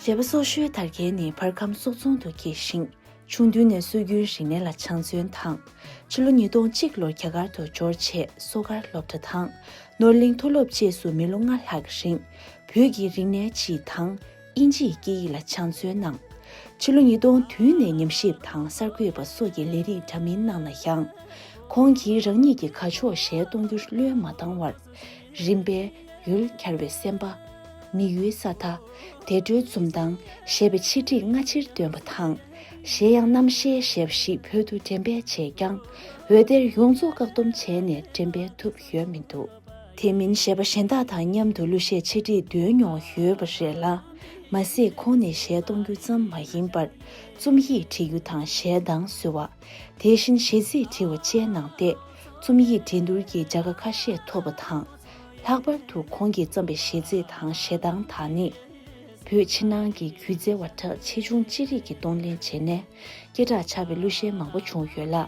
བྱེད་པ་སོགས་ཤོལ་དར་རྒྱལ་ནི་བར་ཁམས་གསོག་རྫོང་དུ་སྐྱེས་ཤིང། ཆུང་དུས་ནས་སྲོལ་རྒྱུན་རིག་གནས་ལ་སྦྱངས་བརྩོན་དང། ཕྱི་ལོ་ཉིས་སྟོང་གཅིག་ལོར་རྒྱ་གར་དུ་འབྱོར་རྗེས་གསོག་སྒར་སློབ་གྲྭ་དང། ནོར་གླིང་མཐོ་སློབ་བཅས་སུ་མི་ལོ་ལྔ་ལྷག་གི་རིང་བོད་ཀྱི་རིག་གནས་སྤྱི་དང། དབྱིན་ཇིའི་སྐད་ཡིག་ལ་བྱང་བརྩོན་གནང། ཕྱི་ལོ་ཉིས་སྟོང་བདུན་ནས་ཉམས་ཞིབ་དང་གསར་འགོད་པ་སོགས་ཀྱི་ལས་རིགས་འདྲ་མིན་གནང་ན་ཡང། ཁོང་གིས་རང་ཉིད་ཀྱི་ཁ་ཕྱོགས་གཞལ་གཏོང་རྒྱུར་བློས་མ་བཏང་བར། རིམ་པས། ཡུལ་གྱར་བའི་སེམས་པ། མི་ཡུལ་ས་མཐའ། དལ་འགྲོའི་འཛུམ་མདངས། ཞེས་པའི་ཆིག་སྒྲིག་སྔ་ཕྱིར་འདོན་པ་དང། གཞན་ཡང་རྣམ་བཤད་ཞལ་བཞི་བོད་དུ་འགྲེམས་སྤེལ་བྱས་ཀྱང། འོད་སྡེར་ཡོངས་རྫོགས་བཀག་སྡོམ་བྱས་ནས་འགྲེམས་སྤེལ་ཐུབ་ཡོད་མི་འདུག། དེ་མིན་གཞས་པ་གཞན་དག་དང་མཉམ་དུ་གླུ་གཞས་ཆེད་བསྒྲིགས་འདོན་མྱོང་ཡོད་པ་རེད་ལ། མ་ཟད་ཁོང་ནི་གཞས་གཏོང་རྒྱུ་ཙམ་མ་ཡིན་པར། རྩོམ་ཡིག་བྲི་རྒྱུ་དང་གཞས་གདངས་བཟོ་བ། དེ་བཞིན་གཞས་ཚིག་བྲི་བ་བཅས་གནང་སྟེ། རྩོམ་ཡིག་འགྲན་བསྡུར་གྱི་བྱ་དགའ་ཁ་ཤས་ཐོབ་པ་དང། ལྷག་པར་དུ་ཁོང་གིས་བརྩམས་པའི་གཞས་ཚིག་དང་གཞས་གདངས་དག་ནི། བོད་ཕྱི་ནང་གི་སྒྱུ་རྩལ་བ་གྲགས་ཆེ་ཆུང་ཅི་རིགས་ཀྱིས་གཏོང་ལེན་བྱས་ནས། སྐད་གྲགས་ཆགས་པའི་གླུ་གཞས་མང་པོ་བྱུང་ཡོད་ལ།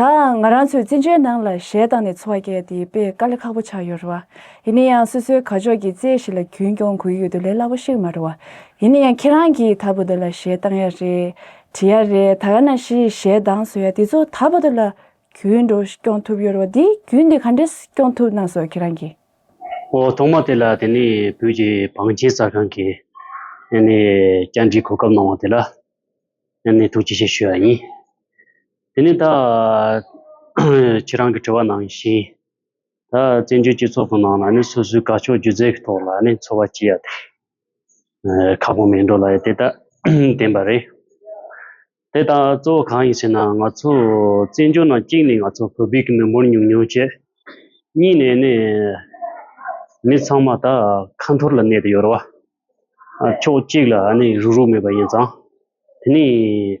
དང། ང་རང་ཚོའི་བཙན་བྱོལ་ནང་ལ་གཞས་བཏང་ནས་འཚོ་བ་སྐྱེལ་དེ་དཔེ་དཀའ་ལས་ཁག་པོ་ཆགས་ཡོད་རེད་བ། ཡིན་ན་ཡང་སོ་སོའི་གར་ཕྱོགས་ཀྱི་རྩེད་ཞིག་ལ་རྒྱུན་སྐྱོང་དགོས་ཡོད་དུ་ལས་སླ་པོ་ཞིག་མ་རེད་བ། ཡིན་ན་ཡང་ཁྱེད་རང་གིས་ད་བར་དུ་ལ་གཞས་བཏང་ཡ་རེད། བྲིས་ཡ་རེད་ད་ཡང་ན་གཞི་ཡི་གཞས་གདངས་བཟོ་ཡ་དེ་ཚོ་ད་བར་དུ་ལ་རྒྱུན་འགྲོ་སྐྱོང་ཐུབ་ཡོད་རེད་བ་དེ་རྒྱུན་དེ་ག་འདྲས་སྐྱོང་ཐུབ་གནང་སོ་ཁྱེད་རང་གིས། ཨོ་ཐོག་མ་དེ་ལ་དེ་ནས་བོད་ཀྱི་བང་ཆེན་གསར་ཁང་གིས་ནས་བཅར་འདྲི་གོ་སྐབས་གནང་བ་དེ་ལ་ནས་ཐུགས་རྗེ་ཆེ་ཞུ་ཡ་ཡིན། དེ་ནས་ད། ཁྱེད་རང་གི་དྲི་བ་ནང་བཞིན། ད་བཙན་བྱོལ་སྤྱི་ཚོགས་ཀྱི་ནང་ལ་ནི་སོ་སོའི་དགའ་ཕྱོགས་སྒྱུ་རྩལ་གྱི་ཐོག་ལ་ནི་འཚོ་བ་སྐྱེལ་ཡ་དེ། ཁག་པོ་མིན་འགྲོ་ལ་ཡི་དེ་ལྟ་བདེན་པ་རེད། དེ་ལྟ་གཙོ་བོ་གང་ཡིན་ཟེར་ན་ང་ཚོ་བཙན་བྱོལ་ནང་གཅིག་ནས་ང་ཚོ་བོད་པའི་གི་མི་འབོར་ཉུང་ཉུང་བཅས། གཉིས་ནས་ནི། མི་ཚང་མ་ད་ཁ་འཐོར་ལ་གནས་དེ་ཡོད་རེད་བ། ཕྱོགས་གཅིག་ལ་ནི་རུག་རུག་མེད་པ་ཡིན་ཙང། དེ་ནས།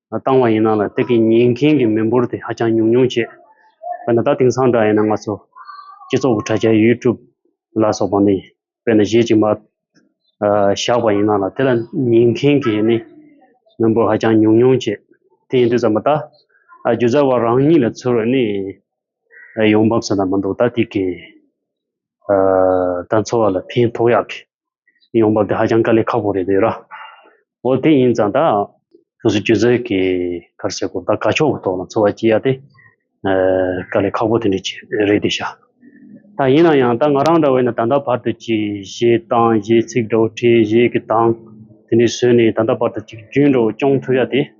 བཏང་བ་ཡིན་ན་ལ་དེ་གི་ཉན་མཁན་གི་མི་འབོར་དེ་ཧ་ཅང་ཉུང་ཉུང་བྱེད། དཔེར་ན་ད་དེང་སང་འདྲ་ཡིན་ན་ང་ཚོ་སྤྱི་ཚོགས་ཀི་དྲ་རྒྱ YouTube ལ་སོགས་པ་ནི་དཔེར་ན་གཞས་ཅིག་མ་བཞག་པ་ཡིན་ན་ལ་དེ་ལ་ཉན་མཁན་གི་ནི་མི་འབོར་ཧ་ཅང་ཉུང་ཉུང་བྱེད། དེ་ཡིན་དུས་ཙམ་པ་ད་རྒྱུ་རྫར་བ་རང་ཉིད་ལ་ཚུར་ནི་ཡོང་འབབ་ཟེར་ན་མི་འདུག་ད་དེ་གི་ད་འཚོ་བ་ལ་ཕན་ཐོགས་ཡག་གི་ཡོང་བ་དེ་ཧ་ཅང་དཀའ་ལས་ཁག་པོ་རེད་འདོད་ར། འོ་དེ་ཡིན་ཙང་ད་སོ་སོའི་ཆུ་ཚོད་ཀྱི་ཁར་ཟེར་གོ་ད་དཀའ་ཕྱོགས་ཀྱི་ཐོག་ལ་འཚོ་བ་སྐྱེལ་ཡ་དེ་དཀའ་ལས་ཁག་པོ་དེ་འདྲ་ཅིག་རེད་འདོད་ཤག། ད་ཡིན་ན་ཡང་ད་ང་རང་འདྲ་བས་ན་ད་ལྟ་བར་དུ་ཅིག་གཞས་གཏང་གཞས་ཚིག་འདྲ་བོ་བྲིས་གཞས་ཀྱི་གདངས་དེ་འདྲས་བཟོས་ནས་ད་ལྟ་བར་དུ་ཅིག་རྒྱུན་འདྲ་བོ་སྐྱོང་ཐུབ་ཡ་དེ།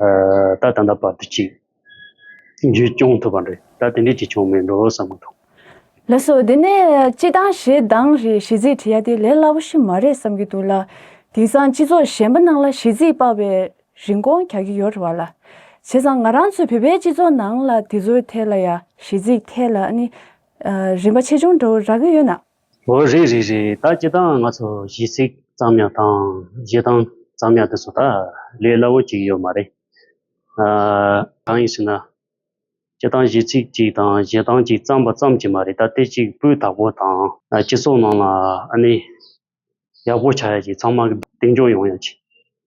ད་ད་ལྟ་བར་དུ་གཅིག། རྒྱུད་སྐྱོང་ཐུབ་པ་རེད་ད་དེ་འདྲའི་གཅིག་བྱུང་མེད་འགྲོ་བསམ་གྱི་འདུག། ལགས་སོ་དེ་ནས་སྤྱི་བཏང་ཞེ་སྡང་རེད་ཞེ་ཚིག་བྲི་ཡ་དེ་ལས་སླ་པོ་ཞིག་མ་རེད་བསམ་གྱི་འདུག་ལ། དེང་སང་སྤྱི་ཚོགས་གཞན་པ་ནང་ལ་ཞེ་ཚིག་དཔའ་བའི་རིན་གོང་གྱ་གྱི་ཡོད་རེད་བ་ལ། བྱས་ཙང་ང་རང་ཚོའི་བོད་པའི་སྤྱི་ཚོགས་ནང་ལ་དེ་ཚོའི་ཐད་ལ་ཡ་ཞེ་ཚིག་ཐད་ལ་ནི་རིན་པ་ཆེ་ཆུང་འདྲ་བོ་རག་གི་ཡོད་ན། ཨོ་རེད་རེད་རེད་ད་ཅི་ལྟའང་ང་ཚོ་གཞིས་ཚིག་ཙམ་ཡང་དང་གཞི་ཐང་ཙམ་ཡང་དེ་ཚོ་ད་ལས་སླ་བོ་ཅིག་ཡོད་མ་རེད། གང་ཡིན་ཟེར་ན། སྤྱི་ཐང་གཞིས་ཚིག་ཅིག་དང་གཞི་ཐང་ཅིག་བརྩམས་པ་ཙམ་གྱིས་མ་རེད་ད་སྟེ་གཅིག་པུའི་དྭགས་པོ་དང། སྤྱི་ཚོགས་ནང་ལ་ཨ་ནི་ཡག་པོ་བྱ་ཡ་ཅིག་ཚང་མ་གདེང་འཇོག་ཡོང་ཡ་ཅིག་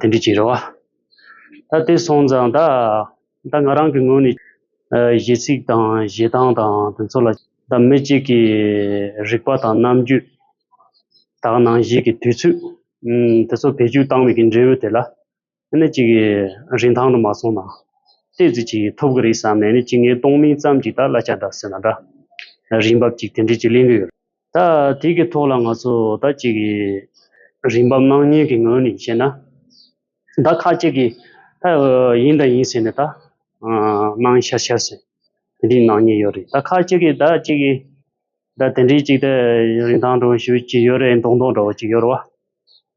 དེ་འདྲའི་བྱིན་ར་བ། ད་དེ་སོང་ཙང་ད་ད་ང་རང་གི་ངོས་ནས་གཞས་ཚིག་དང་གཞས་གདངས་དང་དེ་ཚོ་ལ་ད་མི་གཅིག་གི་རིག་པ་དང་རྣམ་འགྱུས་དག་སྣང་གཞས་ཀྱི་དུས་ཚོད་དེ་ཚོ་བེད་སྤྱོད་བཏང་མེད་ཀྱི་འབྲས་བུ་དེ་ལ་ཨེ་ནི་གཅིག་རིན་ཐང་དུ་མ་སོང་ན་ལྟས་ཚིག་ཅིག་ཐོབ་གི་རེད་བསམ་ནས་ནི་གཅིག་ངའི་སྟོང་མིང་ཙམ་གྱིས་ད་གླ་ཆ་འདྲ་ཟེར་ན་འདྲ་རིན་འབབ་ཅིག་དེ་འདྲས་ཅིག་གླེང་གི་ཡོད་རེད། ད་དེ་གི་ཐོག་ལ་ང་ཚོ་ད་ཅིག་རིན་འབབ་སྣང་བརྙན་གི་ངོས་ནས་བཤད་ན། ད་ཁ་ཅིག་གི་ད་ཡིན་ད་ཡིན་ཟེར་ནས་ད་སྣང་ཤར་ཤར་ཟེར་དེ་འདྲི་སྣང་བརྙན་ཡོད་རེད་ད་ཁ་ཅིག་གི་ད་ཅིག་གི་ད་དེ་འདྲི་ཅིག་ད་རིན་ཐང་འགྲོ་ཞུ་ཅིག་ཡོད་རེད་མདོག་མདོག་འདྲ་བོ་ཅིག་ཡོད་རེད་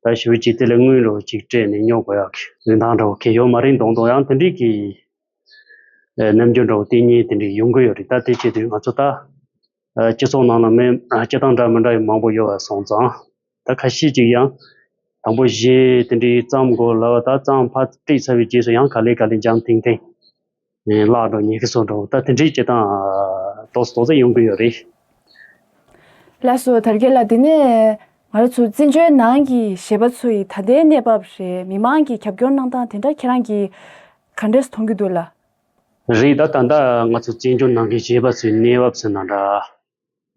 བ། ད་ཞུ་ཅིག་དེ་ལས་དངུལ་རེ་བ་ཅིག་སྤྲད་ནས་ཉོ་དགོས་ཡག་གི་རིན་ཐང་འདྲ་བོ་གི་ཡོད་མ་རེད་མདོག་མདོག་ཡང་དེ་འདྲི་གི་རྣམ་འགྱུར་འདྲ་བོ་བསྟན་ཉེན་དེ་འདྲི་ཡོང་གི་ཡོད་རེད་ད་དེ་བྱེད་དུས་ང་ཚོ་ད། སྤྱི་ཚོགས་ནང་ལ་མི་སྤྱི་དང་འདྲ་མི་འདྲ་ཡང་མང་པོ་ཡོད་པ་སོང་ཙང། ད་ཁ་ཤས་ཀྱིས་ཡང། དང་པོ་གཞས་དེ་འདྲའི་བརྩམས་དགོས་ལབ་པ་ད་གཙང་ཕ་བཀྲིས་ཚར་བའི་རྗེས་སུ་ཡང་ག་ལེ་ག་ལེ་འཇམ་ཐིང་ཐིང། བརླག་འགྲོ་ཉེ་གི་སོ་འགྲོ་ད་དེ་འདྲའི་བྱེད་སྟངས་དོགས་སུ་དོགས་ཙམ་ཡོང་གི་ཡོད་རེད། ལགས་སོ་དར་རྒྱས་ལགས་དེ་ནས་ང་ར་ཚོ་བཙན་བྱོལ་ནང་གི་གཞས་པ་ཚོ་ཡི་ད་ལྟའི་གནས་བབས་རེད་མི་མང་གི་གྱབ་སྐྱོར་གནང་སྟངས་དེ་འདྲ་ཁྱེད་རང་གིས་ག་འདྲས་མཐོང་གི་འདུག་ལ། རེད་ད་ད་ལྟ་ང་ཚོ་བཙན་བྱོལ་ནང་གི་གཞས་པ་ཚོའི་གནས་བབ་ཚོ་ན་འདྲ།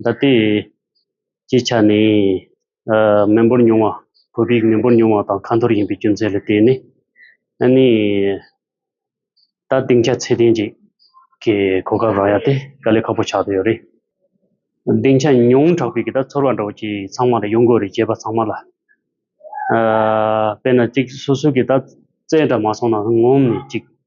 ད་ལྟའི་སྤྱི་ཆ་ནས་མི་འབོར་ཉུང་བ་བོད་རིགས་མི་འབོར་ཉུང་བ་དང་ཁ་འཐོར་ཡིན་པའི་རྒྱུ་མཚན་ལ་བརྟེན་ནས་ཨ་ནི་ད་སྡིངས་ཆ་ཚད་ལྡན་ཅིག་གི་གོ་སྐབས་རག་ཡ་དེ་དཀའ་ལས་ཁག་པོ་ཆགས་བསྡད་ཡོད་རེད། སྡིངས་ཆ་ཉུང་དྲགས་པའི་གི་ད་ཚོར་བ་འདྲ་བོ་ཅིག་ཚང་མ་ལ་ཡོང་དགོས་རེད་གཞས་པ་ཚང་མ་ལ། དཔེར་ན་ཅིག་སོ་སོའི་གི་ད་རྩེད་འདྲ་མ་སོང་ན་ངོམ་ནས་ཅིག་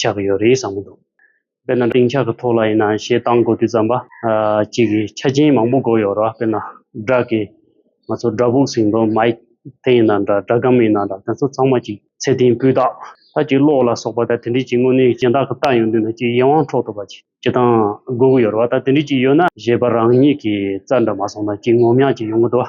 ཆགས་ཀྱི་ཡོད་རེད་བསམ་གྱི་འདུག་དཔེར་ན་ལྡིང་ཆགས་ཀྱི་ཐོག་ལ་ཡིན་ན་བཤད་སྟངས་མགོ་བཏུས་ཙམ་པ་གཅིག་གིས་ཆ་རྐྱེན་མང་པོ་བགོ་ཡོད་ར་དཔེར་ན་སྦྲག་གི་ང་ཚོ་སྦྲག་ཕུག་ཟིང་དོར་མ་ཡིག་དེ་ཡིན་ན་འདྲ་སྦྲག་སྒམ་ཡིན་ན་འདྲ་དེ་ཚོ་ཚང་མ་གཅིག་ཚད་ལྡན་སྤུས་རྟགས་ལྷ་ཅིག་གློག་ལ་སོགས་པ་ད་དེ་འདྲི་གཅིག་དངོས་གནས་གཞན་དག་གི་རྟགས་ཡོང་དུས་ན་གཅིག་ཡིད་དབང་འཕྲོག་ཐུབ་པ་ཅིག་བྱེད་སྟངས་བགོ་གི་ཡོད་ར་བ་ད་དེ་འདྲི་གཅིག་ཡོད་ན་གཞས་པ་རང་ཉིད་ཀྱི་རྩར་འདྲ་མ་སོང་ན་གཅིག་ངོམ་ཡག་ཅིག་ཡོང་གི་འདུག་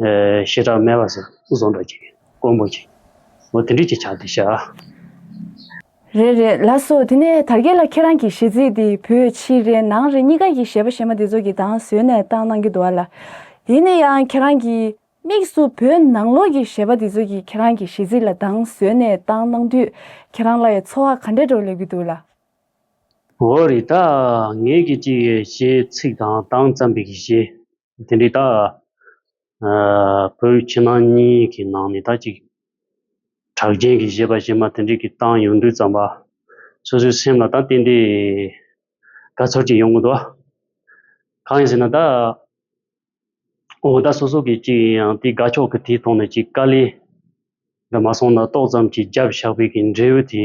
ཤེས་རབ་སྨྲས་པ་ཟ་བཟོ་འདྲ་ཅིག་དཀོན་པོ་ཅིག། མོ་དེ་འདྲིས་ཅིག་བྱ་འདི་བྱ། རེད་རེད་ལ་སོ་དེ་ནས་དར་རྒྱས་ལ་ཁྱེད་རང་གི་གཞས་ཚིག་འདི་བོད་ཕྱི་རེད་ནང་རེད་གཉིས་ཀ་གི་གཞས་པ་གཞས་མ་འདི་ཚོ་གི་དང་ཟོས་ནས་བཏང་གནང་གི་འདུག་ཨ་ལ། དེ་ནས་ཡང་ཁྱེད་རང་གི་དམིགས་སུ་བོད་ནང་ལོག་གི་གཞས་པ་འདི་ཚོ་གི་ཁྱེད་རང་གི་གཞས་ཚིག་ལ་དང་ཟོས་ནས་བཏང་གནང་དུས་ཁྱེད་རང་ལ་ཡ་འཚོ་བ་ག་འདྲ་འགྲོ་སླེབས་གི་འདུག་ལ། འོ་རེད་ད། ངས་གི་གཅིག་གཞས་ཚིག་དང་དང་བརྩམས་པའི་གཞས། དེ་འདྲའི་ད་བོད་ཕྱི་ནང་གཉིས་ཀྱི་ནང་ནས་ད་ཅིག་གྲགས་རྒྱན་གྱི་བཞེད་པ་བཞེད་མ་དེ་འདྲའི་གི་བཏང་ཡོང་དུས་ཙམ་པ་སོ་སོའི་སེམས་ལ་ད་ཏན་ཏན་དགའ་ཚོར་ཅིག་ཡོང་གི་འདུག་གང་ཡིན་ཟེར་ན་ད་འོ་ད་སོ་སོ་གི་ཅིག་ཡིན་ཡང་དེ་དགའ་ཕྱོགས་ཀྱི་དེའི་ཐོག་ནས་ཅིག་དཀའ་ལས་འདི་མ་སོང་ན་ཏོག་ཙམ་གྱི་རྒྱབ་ཞགས་པའི་གི་འབྲས་བུ་དེ་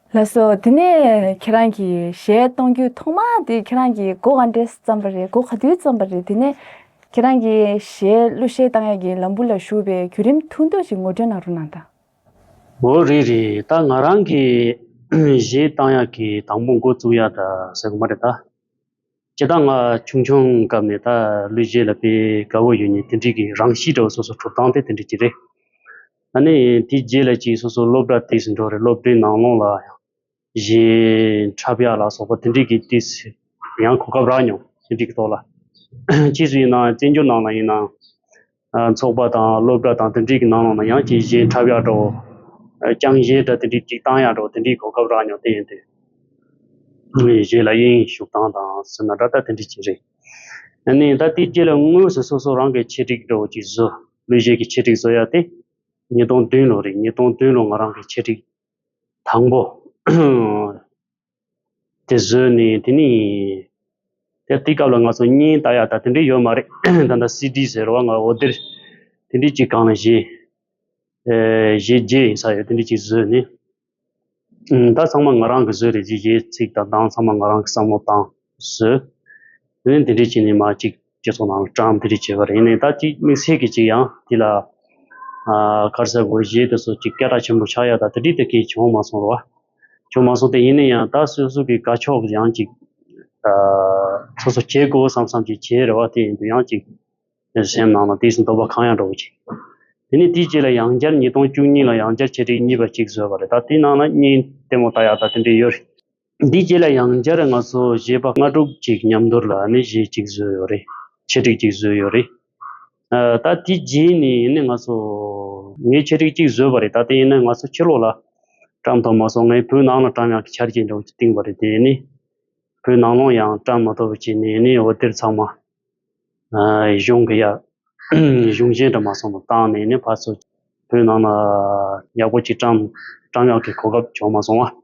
ལགས་སོ། དེ་ནས་ཁྱེད་རང་གིས་གཞས་གཏོང་རྒྱུ་ཐོག་མ་དེ་ཁྱེད་རང་གིས་སྒོ་ག་འདྲས་སུ་བརྩམས་པ་རེད་སྒོ་ག་དུས་བརྩམས་པ་རེད་དེ་ནས་ཁྱེད་རང་གིས་གཞས་གླུ་གཞས་བཏང་ཡག་གི་ལམ་བུ་ལ་ཞུགས་པའི་བརྒྱུད་རིམ་ཐུང་ཐུང་ཞིག་ངོ་སྤྲོད་གནང་རོགས་གནང་དང། འོ་རེད་རེད་ད་ང་རང་གིས་གཞས་བཏང་ཡག་གི་དང་པོ་འགོ་བཙུགས་ཡག་འདྲ་ཟེར་གི་མ་རེད་ད། ཇི་ལྟར་ང་ཆུང་ཆུང་སྐབས་ནས་ད་ལོའི་རྗེས་ལ་དཔེ་དགའ་བོ་ཡོད་ནི་དེ་འགྲིག་གི་རང་གཤིས་འདྲ་བོ་སོ་སོ་གྲུབ་སྟངས་དེ་དེ་འགྲིག་གི་རེད། ད་ནི་དེའི་རྗེས་ལ་ཅིག་སོ་སོ་སློབ་གྲྭ་དེས་འགྲོ་རེད་སློབ་གྲྭའི་ནང་ལོངས་ལ་ཡང་གཞན་འཁྲབ་ཡག་ལ་སོགས་པ་དེ་འགྲིག་གི་དེས་ཡང་གོ་སྐབས་རག་མྱོང་དེ་འགྲིག་གི་ཐོག་ལ། ཕྱིས་སུ་ཡིན་ནའང་བཙན་བྱོལ་ནང་ལ་ཡིན་ནའང། ཚོགས་པ་དང་སློབ་གྲྭ་དང་དེ་འདྲའི་གི་ནང་ལ་ཡང་གྱེས་གཞན་འཁྲབ་ཡག་འགྲོ། རྐྱང་གཞན་འདྲ་དེ་འདྲའི་སྒྲིག་སྟངས་ཡག་འགྲོ་དེ་འདྲའི་གོ་སྐབས་རག་མྱོང་དེ་ཡིན་ཏེ། གཞན་ལ་དབྱིན་ཡིག་ཞུགས་སྟངས་དང་སུ་ན་འདྲ་ལྟ་དེ་འདྲའི་གྱེས་རེད། ཨ་ནི་ད་ལྟའི་རྗེས་ལ་དངོས་སུ་སོ་སོ་རང་གི་ཆེད་སྒྲིག་འགྲོ་གྱིས་བཟོ་ལུས་གཞན་གྱི་ཆེད་སྒྲིག་བཟོ་ཡག་སྟེ། ཉིས་སྟོང་བདུན་ལོ་རེད་ཉིས་སྟོང་བདུན་ལོ་ང་རང་གི་ཆེད་སྒྲིག་དང་པོ། དེ་བཟོས་ནས་དེ་ནས་དེ་དེའི་སྐབས་ལ་ང་ཚོ་སྙིང་ལྟ་ཡག་ད་དེ་འདྲའི་ཡོད་མ་རེད་ད་ལྟ་སི་ཏི་ཟེར་བ་ང་འོ་དེར་དེ་འདྲའི་གཅིག་གང་ལ་བཞེས་བཞེས་རྒྱས་ཡིན་ས་ཡོད་དེ་འདྲའི་གཅིག་བཟོས་ནས་ད་ཚང་མ་ང་རང་གིས་བཟོས་རེད་ཅེས་གཞས་ཚིག་དང་གདངས་ཚང་མ་ང་རང་གི་བསམ་བློ་དང་བཟོས་དེ་ནས་དེ་འདྲའི་གཅིག་ནས་མ་གཅིག་སྤྱི་ཚོགས་ནང་ལ་གྲངས་འདི་རིགས་བྱེད་པ་རེད་ནས་ད་ཅིག་དམིགས་བསལ་གྱི་ཅིག་ཡང་དེ་ལ་ཁར་ཟས་གོར་བཞེས་དེ་སོགས་ཅིག་སྐད་གྲགས་ཆེན་པོ་ཆགས་ཡ་ད་དེ་དྲིས་དེ་གས་བྱུང་མ་སོང་རོགས། བྱུང་མ་སོང་དེ་ཡིན་ན་ཡང་ད་སོས་སོས་ཀྱི་དགའ་ཕྱོགས་ཀྱི་ཡང་ཅིག་སོ་སོ་བྱེད་དགོས་བསམ་བསམ་ཅིག་བྱེད་རེ་བ་དེ་ཡིན་དུས་ཡང་ཅིག་སེམས་ནང་ལ་དེ་སྲིད་འདོད་པ་གང་ཡང་འགྲོ་གི་ཅིག་དེ་ནས་དེའི་རྗེས་ལ་ཡང་བསྐྱར་ཉིས་སྟོང་བཅུ་གཉིས་ལ་ཡང་བསྐྱར་ཆེད་སྒྲིག་གཉིས་པ་ཅིག་བཟོས་པ་རེད་ད་དེའི་ནང་ལ་གཉིས་ལྟད་མོ་ལྟ་ཡ་ད་དེ་འདྲས་ཡོད་རེད། འདི་བརྒྱད་ལ་ཡང་བསྐྱར་ང་ཚོ་གཞས་པ་ལྔ་དྲུག་ཅིག་མཉམ་འདོར་ལ་ནི་གཞས་གཅིག་བཟོས་ཡོད་རེད། འཆད་ཁྲིགས་གཅིག་བཟོས་ཡོད་རེད། ད་དེ་རྗེས་ནས་ཡིན་ནའི་ང་ཚོ་ངས་འཆད་ཁྲིགས་གཅིག་བཟོས་པ་རེད་ད་དེ་ཡིན་ནའི་ང་ཚོ་ཕྱི་ལོགས་ལ་བཀྲམ་ཐོབ་མ་སོང་ངའི་བུ་ནང་ལ་བཀྲམ་ཡང་ཆར་གྱིས་འགྲོགས་ཀྱིས་བཏིང་བ་རེད་དེ་ཡིན་ནའི་བུ་ནང་ལོང་ཡང་བཀྲམ་མ་ཐོབ་བ་གྱིས་ནས་ཡིན་ནའི་འོད་སྡེར་ཚང་མ་གཞུང་གི་ཡག་གཞུང་གཞན་དུ་མ་སོང་བར་བཏང་ནས་ཡིན་ནའི་ཕར་ཚུར་བུ་ནང་ལ་ཡག་པོ་གཅིག་བཀྲམ་བཀྲམ་ཡག་གི་གོ་སྐབས་བྱུང་མ་སོང་བ།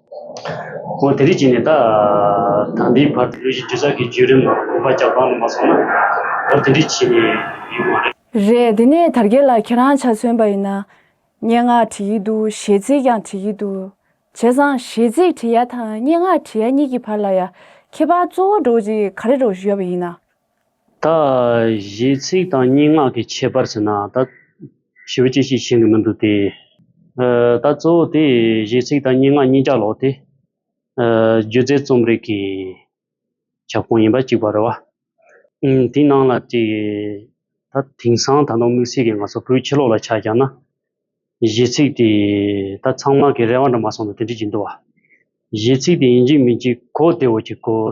ཁོང་དེ་རིགས་ཀྱིས་ནི་ད་ལྟ་འདིའི་བར་དུ་ལོ་བཞི་བཅུ་རྩ་གི་བརྒྱུད་རིམ་དགོངས་པ་རྒྱ་བསྐྱང་ལ་མ་སོང་ན་འོ་དེ་འདྲས་བྱས་ནས་ཡོད་མ་རེད། རེད་དེ་ནས་དར་རྒྱས་ལགས་ཁྱེད་རང་ཆ་མཚོན་པ་ཡིན་ན། སྙན་ངག་བྲི་གི་འདུག་གཞས་ཚིག་ཀྱང་བྲི་གི་འདུག་བྱས་ཙང་གཞས་ཚིག་བྲི་ཡ་དང་སྙན་ངག་བྲི་ཡ་གཉིས་ཀྱི་བར་ལ་ཡ་ཁྱད་པར་གཙོ་བོ་སྒྲོག་ཅིག་ག་རེ་སྒྲོག་ཞུ་ཡ་བ་ཡིན་ན། ད་གཞས་ཚིག་དང་སྙན་ངག་གི་ཁྱད་པར་ཟེར་ན་ད་ཞི་བ་ཅི་ཞིག་ཤེས་གི་མི་འདུག་སྟེ། ད་གཙོ་བོ་དེ་གཞས་ཚིག་དང་སྙན་ངག་གཉིས་ཆ་ལོག་སྟེ། སྒྱུ་རྩལ་རྩོམ་རིག་གི་ཁྱབ་ཁོངས་ཡིན་པ་གཅིག་པ་རེད་བ། དེའི་ནང་ལ་དེ་ད་དེང་སང་ད་དུང་དམིགས་བསལ་གྱི་ང་ཚོ་བོད་ཕྱི་ལོགས་ལ་ཆ་བཞག་ན། གཞས་ཚིག་དེ་ད་ཚང་མ་གི་རེ་བ་འདྲ་མ་སོང་ནི་དེ་འདྲས་ཀྱི་འདུག་བ། གཞས་ཚིག་དེ་ཡིན་གཅིག་མིན་གཅིག་གོ་བདེ་བོ་གཅིག་གོ།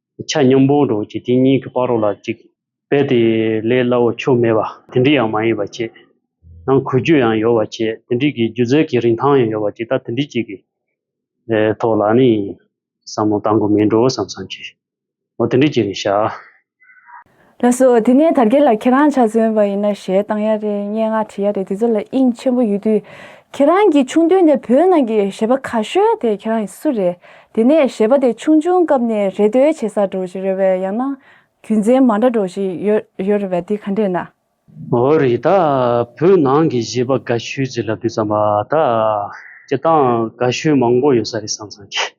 ཆ་སྙོམས་པོ་འགྲོ་བྱེད་དེ་གཉིས་ཀྱི་བར་རོ་ལ་གཅིག། དཔེ་དེ་ལས་སླ་བོ་ཆོས་མེད་པ་དེ་འདྲི་ཡང་མ་ཡིན་པ་ཆེ། ནང་ཁུལ་རྒྱུ་ཡང་ཡོད་པ་ཆེ་དེ་འདྲི་གི་སྒྱུ་རྩལ་གྱི་རིན་ཐང་ཡང་ཡོད་པ་ཅིག་ད་དེ་འདྲི་གཅིག་གི་ཐོག་ལ་ནི་བསམ་བློ་གཏང་དགོས་མིན་འགྲོ་བསམ་བསམ་གྱིས་འོ་དེ་འདྲི་གཅིག་ནི་བྱ། ལགས་སོ། དེ་ནས་དར་རྒྱས་ལ་ཁྱེད་རང་ཆ་མཚོན་པ་ཡིན་ན་ཞལ་བཏང་ཡ་རེད་སྙན་ངག་བྲིས་ཡ་རེད་དེ་ཚོ་ལ་དབྱིངས་ཆེན་པོ་ཡོད་དུས། ཁྱེད་རང་གིས་ཆུང་དུས་ནས་བོད་ནང་གི་གཞས་པ་ག་ཤོད་དེ་ཁྱེད་རང་ཡིན་སུ་རེད། དེ་ནས་གཞས་པ་དེ་ཆུང་ཆུང་སྐབས་ནས་རེ་ལྟོས་བྱེད་ས་འགྲོ་བཞིན་ཡོད་པས་ཡང་ན་རྒྱུ་མཚན་མ་འདྲ་འགྲོ་བཞིན་ཡོད་རེད་པས་དེ་ག་འདྲས་ན། འོ་རེད་ད། བོད་ནང་གི་གཞས་པ་ག་ཤོད་ཅིག་ལབ་དུས་བསམ་པ་ད། ཁྱེད་རང་ག་ཤོད་མང་པོ་ཡོད་ས་རེད་བསམ་བསམ་གྱིས།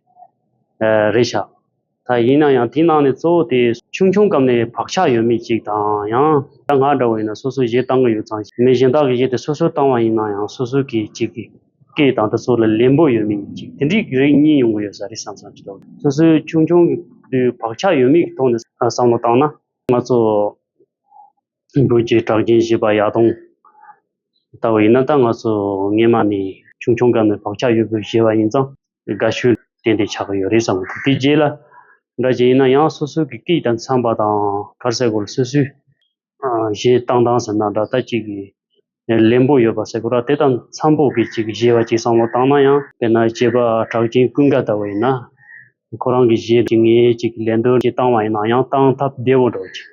རེད་བཞག། ད་ཡིན་ན་ཡང་དེའི་ནང་ནས་གཙོ་བོ་དེ་ཆུང་ཆུང་སྐབས་ནས་བག་ཆགས་ཡོད་མེད་ཅིག་དང་ཡང་ད་ང་འདྲ་བ་ཡིན་ན་སོ་སོ་གཞས་བཏང་གི་ཡོད་ཙང་མི་གཞན་དག་གི་གཞས་དེ་སོ་སོས་བཏང་བ་ཡིན་ན་ཡང་སོ་སོ་གི་གཅིག་གི་སྐད་དང་དེ་ཚོ་ལ་ལེན་པོ་ཡོད་མེད་ཡིན་ཅིག་དེ་འདྲིའི་རིགས་གཉིས་ཡོང་གི་ཡོད་ས་རེད་བསམ་བསམ་ཞིག་འདུག་སོ་སོའི་ཆུང་ཆུང་གི་དུས་བག་ཆགས་ཡོད་མེད་ཀྱི་ཐོག་ནས་བསམ་བློ་བཏང་ན། ང་ཚོ། འགྲོས་ཀྱི་གྲགས་རྒྱན་བཞེས་པ་ཡག་གཏོང། ལྟ་བུ་ཡིན་ན་ད་ང་ཚོ་རྔན་མ་ནས་ཆུང་ཆུང་སྐབས་ནས་བག་ཆགས་ཡོད་དགོས་བཞེས་པ་ཡིན་ཙང་དགའ་ཤོས་དེ་འདྲས་ཆགས་ཀྱི་ཡོད་རེད་བསམ་གི་འདུག་དེ་རྗེས་ལ་འདྲ་རྗེས་ཡིན་ན་ཡང་སོ་སོའི་གི་སྐད་དང་འཚམས་པ་དང་གར་སའི་སྐོར་སོ་སོའི་བཞེས་སྟངས་དང་ཟེར་ན་འདྲ་ལྟ་ཅིག་གི་ལེན་པོ་ཡོད་པ་ཟེར་གོ་ར་དེ་དང་འཚམ་པོ་གི་ཅིག་གཞས་བ་ཅིག་བསམ་བློ་བཏང་ན་ཡང་དཔེར་ན་སྐྱེས་པ་གྲགས་ཅན་ཀུན་དགའ་ལྟ་བུ་ཡིན་ན། ཁོ་རང་གི་གཞས་ཅིག་ངས་ཅིག་ལེན་འདོད་ཀྱི་བཏང་བ་ཡིན་ན་ཡང་བཏང་ཐབས་བདེ་བོ་འགྲོ་ཅིག།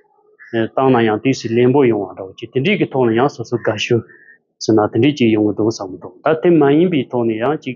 བཏང་ན་ཡང་དུས་སུ་ལེན་པོ་ཡོང་བ་འགྲོ་ཅིག་དེ་འདྲིས་ཀྱི་ཐོག་ནས་ཡང་སོ་སོ་དགའ་ཤོས་ཟེར་ན་དེ་འདྲིས་ཅིག་ཡོང་གི་འདུག་བསམ་གི་འདུག་ད་དེ་མ་ཡིན་པའི་ཐོག་ནས་ཡང་ཅིག་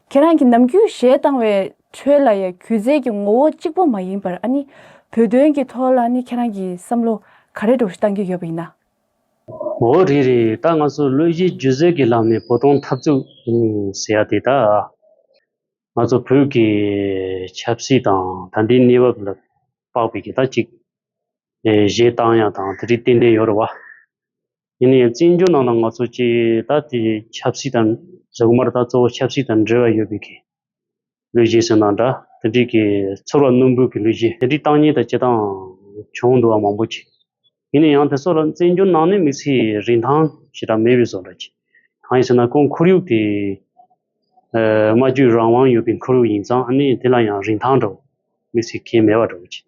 ཁྱེད་རང་གི་ནམ་རྒྱུན་གཞས་བཏང་བའི་ཁྲོད་ལ་ཡང་གུས་རྩལ་གྱི་ངོ་བོ་གཅིག་པོ་མ་ཡིན་པར་ཨ་ནི་བོད་དོན་གྱི་ཐོག་ལ་ནི་ཁྱེད་རང་གི་བསམ་བློ་ག་རེ་འགྲོ་བཏང་གི་ཡོད་པ་ཡིན་ན། འོ་རེད་རེད་ད་ང་ཚོ་བློ་གཞི་སྒྱུ་རྩལ་གྱི་ལམ་ནས་བོ་དོང་འཐབ་རྩོད་ཟེར་ཡ་དེ་དག་ང་ཚོ་བོད་ཀྱི་ཆབ་སྲིད་དང་ད་ལྟའི་གནས་བབ་ལ་དཔག་པའི་གི་ད་ཅིག་གཞས་བཏང་ཡ་དང་དེ་རིགས་ཏན་ཏན་ཡོད་རེད་བ། ཡིན་ཡང་བཙན་བྱོལ་ནང་ལ་ང་ཚོ་སྤྱི་ད་དེ་ཆབ་སྲིད་དང་གཟུགས་དམར་དང་གཙོ་བོ་ཆབ་སྲིད་དང་འབྲེལ་བ་ཡོད་པའི་གི་ལུས་གཞས་ཟེར་ན་འདྲ་དེ་འདྲིས་གི་ཚོར་བ་རྣོན་པོའི་གི་ལུས་གཞས་དེ་འདྲིས་སྟངས་ཉིད་དང་བྱེད་སྟངས་བྱུང་འདུག་བ་མང་པོ་གི། ཡིན་ན་ཡང་དེ་ཚོ་ལ་བཙན་བྱོལ་ནང་ནས་མི་ཚེའི་རིན་ཐང་ཞེ་དྲག་མེད་པའི་བཟོ་འདྲ་གི། གང་ཡིན་ཟེར་ན་ཁོང་ཁོར་ཡུག་དེ། སྨྲ་བརྗོད་རང་དབང་ཡོད་པའི་འཁོར་ཡུག་ཡིན་ཙང་ཨ་ནི་དེ་ལ་ཡང་རིན་ཐང་འདྲ་བོ་མི་ཚེ་གལ་མེད་པ་འདྲ་བོ་ཅི།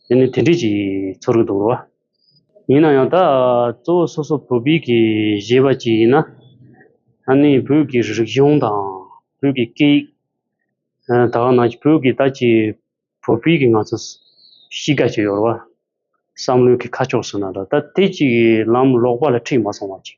དེ་ནི་དེ་འདྲས་ཀྱི་ཚོར་གི་འདུག་རོ། ཡིན་ན་ཡང་ད་གཙོ་བོ་སོ་སོ་བོད་སྤིག་གི་གཞས་པ་ཅིག་ཡིན་ན་ཨ་ནི་བོད་ཀྱི་རིག་གཞུང་དང་བོད་ཀྱི་སྐད་ཡིག་ད་ག་ནང་གི་བོད་ཀྱི་ད་ཅི་བོད་སྤིག་གི་ང་ཚོ་གཤིས་ཀ་ཅིག་ཡོད་རོ་བསམ་བློའི་གི་ཁ་ཕྱོགས་སུ་ན་འདྲ་ད་དེ་ཅིག་ལམ་ལོག་པ་ལ་ཁྲིད་མ་སོང་བ་ཅིག།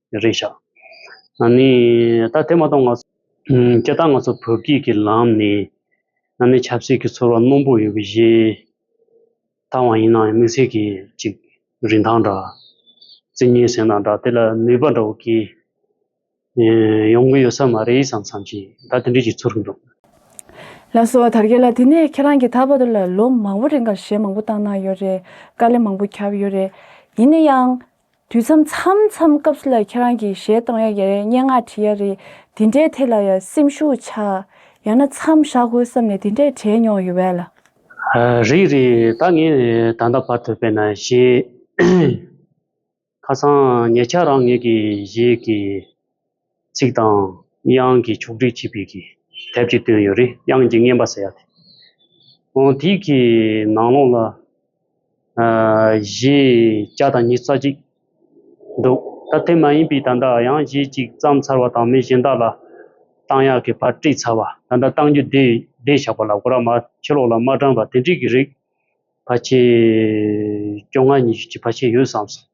རེད་ཤག། ཨ་ནི། ད་དེ་མ་གཏོགས་ང། སྐད་གདངས་ང་ཚོ་བོད་སྐད་ཀྱི་ལམ་ནས། ཨ་ནི་ཆབ་སྲིད་ཀྱི་ཚོར་བ་རྣོན་པོ་ཡོད་པའི་གཞི། ཐང་བ་ཡིན་ན་ཡང་དམིགས་བསལ་གྱི་ཅིག་རིན་ཐང་འདྲ། རྩི་ཉིན་ཟེར་ན་འདྲ་དེ་ལ་ནུས་པ་འདྲ་བོ་སྐྱེ། ཡོང་གི་ཡོད་ས་མ་རེད་བསམ་བསམ་བྱས་ད་དེ་འདྲའི་ཅིག་ཚོར་གྱི་འདུག། ལགས་སོ་དར་རྒྱས་ལ་དེ་ནས་ཁྱེད་རང་གི་ད་བར་དུ་ལ་ལོ་མང་བོ་རིང་གར་གཞས་མང་བོ་བཏང་གནང་ཡོད་རེད་དཀའ་ལས་མང་བོ་ཁྱབ་ཡོད་རེད་ཡིན་ན་ཡང། དུས་མཚམས་མཚམས་མཚམས་སྐབས་སུ་ལ་ཁྱེད་རང་གིས་གཞས་གཏོང་ཡ་ཡ་རེད་སྙན་ངག་བྲིས་ཡ་རེད་དེ་འདྲའི་ཐད་ལ་ཡང་སེམས་ཤུགས་ཆགས་ཡང་ན་མཚམས་བཞག་དགོས་བསམ་ནས་དེ་འདྲས་བྲིས་མྱོང་ཡོད་བས་ལ། རེད་རེད་ད་ངས་ད་ལྟ་བར་དུ་བས་ན་གཞས་ཁ་སང་ངེད་ཅག་རང་ངེད་ཀྱི་གཞས་ཀྱི་ཚིག་དང། དབྱངས་ཀྱི་ཕྱོགས་སྒྲིག་བྱས་པའི་གི་དེབ་ཅིག་བཏོན་ཡོད་རེད་དབྱངས་ཀྱི་རྔན་པ་ཟེར་ཡག་དེ། འོན་དེའི་གི་ནང་ལོགས་ལ། གཞས་བརྒྱ་དང་ཉིས་རྩ་གཅིག་འདུག་ད་དེ་མ་ཡིན་པའི་ད་ལྟ་ཡང་གཞས་གཅིག་བརྩམས་ཚར་བ་དང་མི་གཞན་དག་ལ་བཏང་ཡག་གི་བར་དཀྲིས་ཚར་བ་ད་ལྟ་བཏང་རྒྱུ་བསྡད་བཞག་པ་ལ་གོ་ར་མ་ཕྱི་ལོགས་ལ་མ་དྲངས་པ་དེ་འདྲིས་གི་རིགས་བར་ཆད་སྐྱོ་ང་ཉི་ཤུ་གཅིག་བར་ཆད་ཡོད་བསམ་སོང།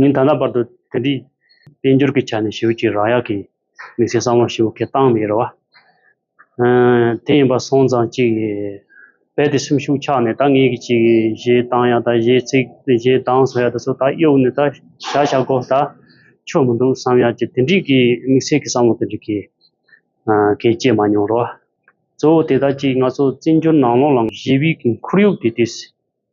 ཉིན་ད་ལྟ་བར་དུ་དེ་འདྲའི་དཔལ་འབྱོར་གྱི་ཆ་ནས་ཞིབ་ཀྱིས་རང་ཡག་གི་དམིགས་བསལ་བསམ་བློ་ཞིབ་ཁས་བཏང་མེད་རེད་བ། དེ་ཡིན་པ་སོང་ཙང་གཅིག་རེད་བས་དེ་སེམས་ཤུགས་ཆག་ནས་ད་ངེད་ཀྱི་ཅིག་གཞས་བཏང་ཡག་ད་གཞས་ཚིག་གཞས་གདངས་བཟོ་ཡག་ད་ཚོ་ད་གཡོག་ནས་ད་བྱ་བྱ་གོ་ད་ཆོ་མི་འདུག་བསམ་ཡག་ཅེས་དེ་འདྲིས་ཀྱི་དམིགས་བསལ་གྱི་བསམ་བློ་དེ་འདྲིས་ཀྱིས་ཀྱིས་སྐྱེས་མ་མྱོང་རེད་བ། གཙོ་བོ་དེ་ད་ཅིག་ང་ཚོ་བཙན་བྱོལ་ནང་ལོག་ལ་གཞས་དབྱིག་གི་འཁོར་ཡུག་དེ་དེ།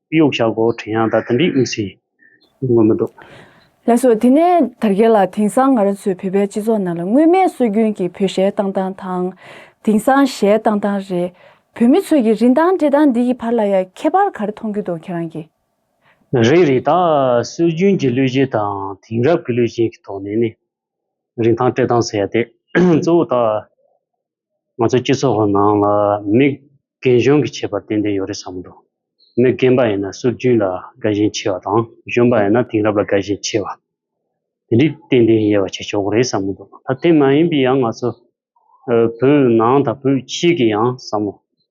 སྤུ་གཡོག་ཞྭ་སྒོ་བྲེ་ཡང་དག་དེ་འདྲའི་དབུགས་ཟིན་ངོ་མི་འདུག། ལན་སོགས་དེ་ནས་དར་རྒྱས་ལ་དེང་སང་ང་རང་ཚོའི་བོད་པའི་སྤྱི་ཚོགས་ནང་ལ་སྔོན་མའི་སྲོལ་རྒྱུན་གྱི་བོད་ཞལ་བཏང་སྟངས་དང། དེང་སང་ཞལ་བཏང་སྟངས་རེད། བོད་མི་ཚོས་ཀྱི་རིན་ཐང་འགྲེལ་སྟངས་འདི་གྱི་བར་ལ་ཡང་ཁྱད་པར་ག་རེ་མཐོང་རྒྱུ་འདུག་ཁྱེད་རང་གིས། རེད་རེད་ད། སྲོལ་རྒྱུན་གྱི་གླུ་གཞས་དང་དེང་རབས་ཀྱི་གླུ་གཞས་ཀྱི་ཐོག་ནས་ནི། རིན་ཐང་སྤྲད་སྟངས་ཟེར་ཡ་དེ། གཙོ་བོ་ད། ང་ཚོའི་སྤྱི་ཚོགས་ཁོ་ནང་ལ་མི་རྒན་གཞོན་གྱི་ཁྱད་པར་ཏན་ཏན་ཡོད་རེད་བསམ་འདུག་མི་རྒན་པ་ཡིན་ན་སྲོལ་རྒྱུན་ལ་དགའ་ཞེན་ཆེ་བ་དང། གཞོན་པ་ཡིན་ན་དེང་རབས་ལ་དགའ་ཞེན་ཆེ་བ། དེ་འདྲའི་ཏན་ཏན་དབྱེ་བ་ཕྱེ་ཆོག་གི་རེད་བསམ་གྱི་འདུག་ད་དེ་མ་ཡིན་པའི་ཡང་ང་ཚོ་བོད་ནང་དང་བོད་ཕྱི་གི་ཡང་བསམ་མོ།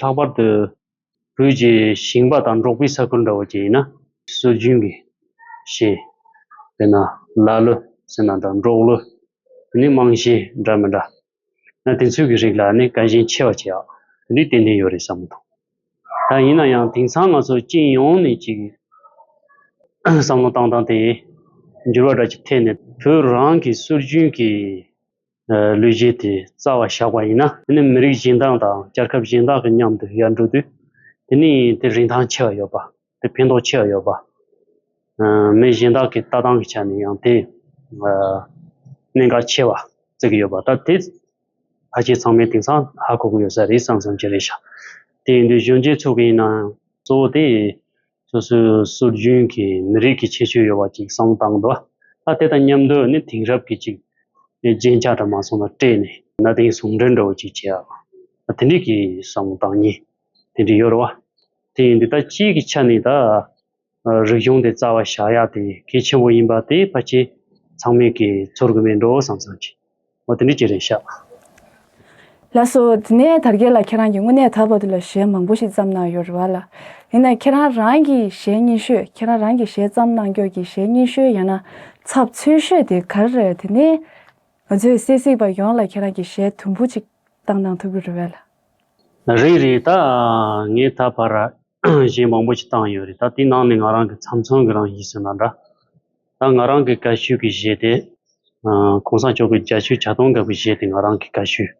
ལྷག་པར་དུ་བོད་ཀྱི་ཞིང་པ་དང་འབྲོག་པའི་ས་ཁུལ་འདྲ་བོ་ཅིག་ཡིན་ན། སྲོལ་རྒྱུན་གྱི་ཞེས་དཔེར་ན་ལ་ལོ་ཟེར་ན་དང་འབྲོག་ལོ་དེ་ནི་རྨང་གཞི་འདྲ་མི་འདྲ། ན་དེ་ཚོའི་གི་རིགས་ལ་ནི་དཀའ་ཞེན་ཆེ་བ་ཆེ་ཡག་དེ་འདྲའི་ཏན་ཏན་ཡོད་རེད་བསམ་མི་ཐུབ། ད་ཡིན་ན་ཡང་དེང་སང་ང་ཚོ་སྤྱི་ཡོངས་ནས་ཅིག་བསམ་བློ་བཏང་བཏང་སྟེ་འགྱུར་བ་འདྲ་ཅིག་ཐེབས་ནས་བོད་རང་གི་སྲོལ་རྒྱུན་གྱི་ལུས་བརྗེས་ཏེ་རྩ་བ་བཞག་པ་ཡིན་ན། དེ་ནི་མི་རིགས་གཞན་དག་དང་རྒྱལ་ཁབ་གཞན་དག་གི་མཉམ་དུ་ཡར་འགྲོ་དུས། དེ་ནི་དེ་རིན་ཐང་ཆེ་བ་ཡོད་པ། དེ་ཕན་ཐོགས་ཆེ་བ་ཡོད་པ། མི་གཞན་དག་གི་ལྟ་སྟངས་ཀྱི་ཆ་ནས་ཡང་དེ་གནད་འགག་ཆེ་བ་རྩི་གི་ཡོད་པ། ད་དེ་ཕལ་ཆེར་ཚང་མའི་དེང་སང་ཧ་གོ་གི་ཡོད་ས་རེད་བསམ་བསམ་གྱི་རེད་བཞག་དེ་ཡིན་དུས་གཞོན་སྐྱེས་ཚོ་གི་ཡིན་ན་ཡང་གཙོ་བོ་དེ་སོ་སོའི་སྲོལ་རྒྱུན་གྱི་མི་རིགས་ཀྱི་ཁྱད་ཆོས་ཡོད་པ་ཅིག་སྲང་བཏང་འདུག་ད་དེ་དང་མཉམ་དུ་ནི་དེང་རབས་ཀྱི་ཅིག་རྒྱན་ཆ་འདྲ་མ་སོང་ལ་སྤྲས་ནས་གནའ་དེང་ཟུང་འབྲེལ་འདྲ་བོ་ཅིག་བྱས་ཡག་དེ་འགྲིག་གི་སྲང་བཏང་གཉིས་དེ་འགྲིག་ཡོད་རེད་བ། དེ་འདི་ལྟར་སྤྱིའི་གི་ཆ་ནས་ད་རིག་གཞུང་དེ་རྩ་བ་བཞག་ཡག་དེ་གལ་ཆེན་པོ་ཡིན་པ་དེ་ཕ་ཁྱེད་ཚང་མས་གི་ཚོར་གི་མེད་འགྲོ་བསམ་བསམ་གྱིས། ཨོ་དེ་འདྲའི་སྐྱེ་རེད་ཤག། ལགས་སོ། དེ་ནས་དར་རྒྱས་ལ་ཁྱེད་རང་གིས་དངོས་གནས་ད་བར་དུ་ལ་གཞས་མང་པོ་ཞིག་བརྩམས་གནང་ཡོད་རེད་བ་ལ། ཡིན་ནའི་ཁྱེད་རང་རང་གི་གཞས་རྙིང་ཤོས་ཁྱེད་རང་རང་གི་གཞས་བརྩམས་གནང་སྐྱོར་གྱི་གཞས་རྙིང་ཤོས་ཡང་ན་ཚབ་ཚུལ་ཤོས་དེ་ག་རེ་རེད་དེ་ནས་ང་ཚོའི་སེ་གཟིགས་པ་ཡོངས་ལ་ཁྱེད་རང་གི་གཞས་དུམ་བུ་ཅིག་བཏང་གནང་ཐུབ་ཀྱི་རེད་བས་ལ། རེད་རེད་ད། ངས་ད་བར་གཞས་མང་པོ་ཞིག་བཏང་ཡོད་རེད་ད་དེའི་ནང་ནས་ང་རང་གི་ཚམ་ཚོམ་གི་རང་བཞིན་སོན་ན་འདྲ། ད་ང་རང་གི་དགའ་ཤོས་ཀྱི་གཞས་དེ། ྋགོང་ས་མཆོག་གི་རྒྱ་ཆུའི་བྱ་གཏོང་འགབ་པའི་གཞས་དེ་ང་རང་གི་དགའ་ཤོས།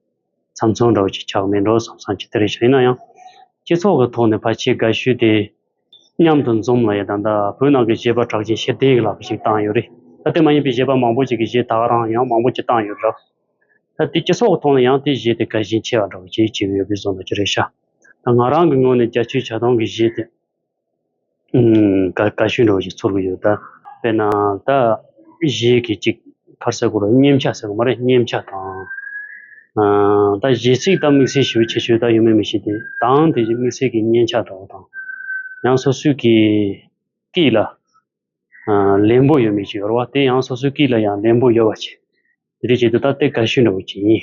ཚམ་ཚོམ་འདྲ་བོ་ཅིག་ཆགས་མེད་འགྲོ་བསམ་བསམ་གྱི་དེ་རེད་བྱ་ཡིན་ན་ཡང། སྤྱི་ཚོགས་ཀྱི་ཐོག་ནས་ཕ་ཆེའི་དགའ་ཤོས་དེ། མཉམ་དུ་འཛོམས་ལ་ཡ་ད་ད་བོད་ནང་གི་གཞས་པ་གྲགས་ཅན་ཤེས་ལྡན་ཡིག་ལགས་ཀྱི་ཞིག་བཏང་ཡོད་རེད་ད་དེ་མ་ཡིན་པའི་གཞས་པ་མང་པོ་ཅིག་གི་གཞས་ད་ང་རང་ཡང་མང་པོ་ཅིག་བཏང་ཡོད་རེད། ད་དེ་སྤྱི་ཚོགས་ཀྱི་ཐོག་ནས་ཡང་དེ་གཞས་དེ་དགའ་ཞེན་ཆེ་བ་འདྲ་བོ་ཅིག་བྱེད་ཀྱི་ཡོད་པའི་བཟོ་འདྲ་ཅིག་རེད་བྱ། ད་ང་རང་གི་ངོས་ནས་རྒྱ་ཆུའི་བྱ་གཏོང་གི་གཞས་དེ། དགའ་ཞིང་རོ་ཞིག་ཚོར་གྱི་ཡོད་ད། དཔེར་ན་ད་གཞས་ཀྱི་ཅིག་ཁར་སའི་གོ་ལ་སྙེམས་ཆ་ཟེར་གོ་མ་རེད་སྙེམས་ཆ་དང། ད་གཞས་ཚིག་ད་དམིགས་བསལ་ཞིབ་བྱེད་ཆོས་ད་ཡོད་མེད་མི་ཤེས་ཏེ་དང་དེ་བཞིན་དམིགས་བསལ་གྱི་སྙན་ཆ་དག་དང། ཡང་སོ་སོའི་གི་ཀིས་ལ་ལན་པོ་ཡོད་མེད་ཅིག་ཡོར་བ་དེ་ཡང་སོ་སོའི་ཀིས་ལ་ཡང་ལན་པོ་ཡོར་བ་བྱེད། དེ་འདྲས་བྱེད་དུ་ད་དེ་དགའ་ཞིང་རོ་བྱེད་ཡིན།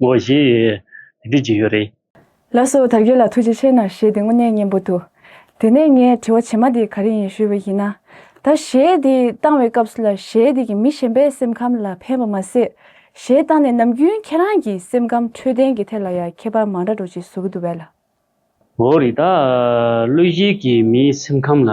ངོ་ཞེས་དེ་སྐད་བགྱི་ཡོད་རེད། ལགས་སོ་དར་རྒྱས་ལ་ཐུགས་རྗེ་ཆེ་ནར་ཞེས་དེ་དངོས་གནས་སྙན་པོ་འདུག་དེ་ནས་ངས་དྲི་བ་བྱེད་མ་དེ་ག་རེ་ཡིན་ཞུས་པ་ཡིན་ན། ད་གཞས་འདི་བཏང་བའི་སྐབས་སུ་ལ་གཞས་འདི་གི་མི་གཞན་པའི་སེམས་ཁམས་ལ་ཕན་པ་མ་ཟད། གཞས་བཏང་ནས་ནམ་རྒྱུན་ཁྱེད་རང་གི་སེམས་ཁམས་འཕྲོད་བསྟེན་གྱི་ཐད་ལ་ཡང་ཁྱད་པར་མང་དྲག་འགྲོ་ཅིག་བཟོ་གི་འདུག་བས་ལ། འོ་རེད་ད། བློས་གཞས་ཀྱིས་མིའི་སེམས་ཁམས་ལ་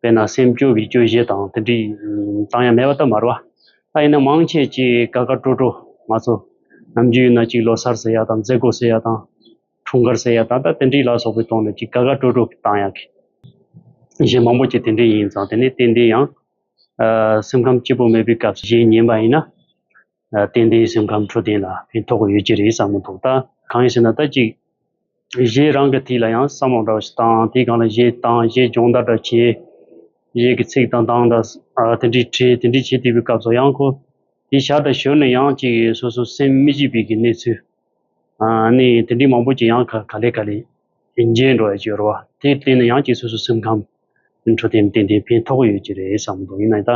དཔེར་ན་སེམས་སྐྱོ་བའི་སྐྱོ་གཞས་དང་དེ་འདྲའི་གཙང་ཡང་མེད་པ་ལྟར་མར་བ་ལྟ་ཡིན་ན་མང་ཆེ་གཅིག་དགའ་དགའ་སྤྲོ་སྤྲོ་མ་ཚོ་ནམ་རྒྱུན་ཡིན་ན་གཅིག་ལོ་སར་ཟེར་ཡག་དང་མཛད་སྒོ་ཟེར་ཡག་དང་འཁྲུངས་སྐར་ཟེར་ཡག་ད་ལྟ་དེ་འདྲའི་ལ་སོགས་པའི་ཐོག་ནས་གཅིག་དགའ་དགའ་སྤྲོ་སྤྲོ་བཏང་ཡག་གི། གཞས་མང་པོ་གཅིག་དེ་འདྲའི་ཡིན་ཙང་དེ་ནི་ཏན་ཏན་ཡང་སེམས་ཁམས་སྐྱིད་པོ་མེད་པའི་སྐབས་གཞས་ཉན་པ་ཡིན་ན། རྟེན་འདིའི་སེམས་ཁམས་འཕྲོད་བསྟེན་ལ་ཕན་ཐོགས་ཡོད་ཀྱི་རེད་བསམ་མི་འདུག་ད་གང་ཞེ་ན་ད་ཅིག་གཞས་རང་གི་ཐིག་ལ་ཡང་བསམ་བློ་འདྲ་བ་ཞིག་བཏང་དེ་གང་ལ་གཞས་བཏང་གཞས་སྦྱོང་བརྡར་འདྲ་བྱས། གཞས་ཀྱི་ཚིག་དང་གདངས་འདྲ་དེ་འདྲའི་བྲིས་དེ་འདྲའི་བྱས་དེ་པའི་སྐབས་སུ་ཡང་ཁོ་དེ་ཞར་དང་ཞོར་ནས་ཡང་ཅིག་སོ་སོ་སེམས་མི་སྐྱིད་པའི་གི་གནས་ཚུལ་ནི་དེ་འདྲའི་མང་པོ་ཅིག་ཡང་ག་ལེ་ག་ལེ་མཇལ་འགྲོ་ཡོད་ཀྱི་རེད་བ་དེ་བརྟེན་ནས་ཡང་ཅིག་སོ་སོ་སེམས་ཁམས། འཕྲོད་བསྟེན་ཏན་ཏན་ཕན་ཐོགས་ཡོད་ཀྱི་རེད་བསམ་འདུག་ཡིན་ནའི་ད་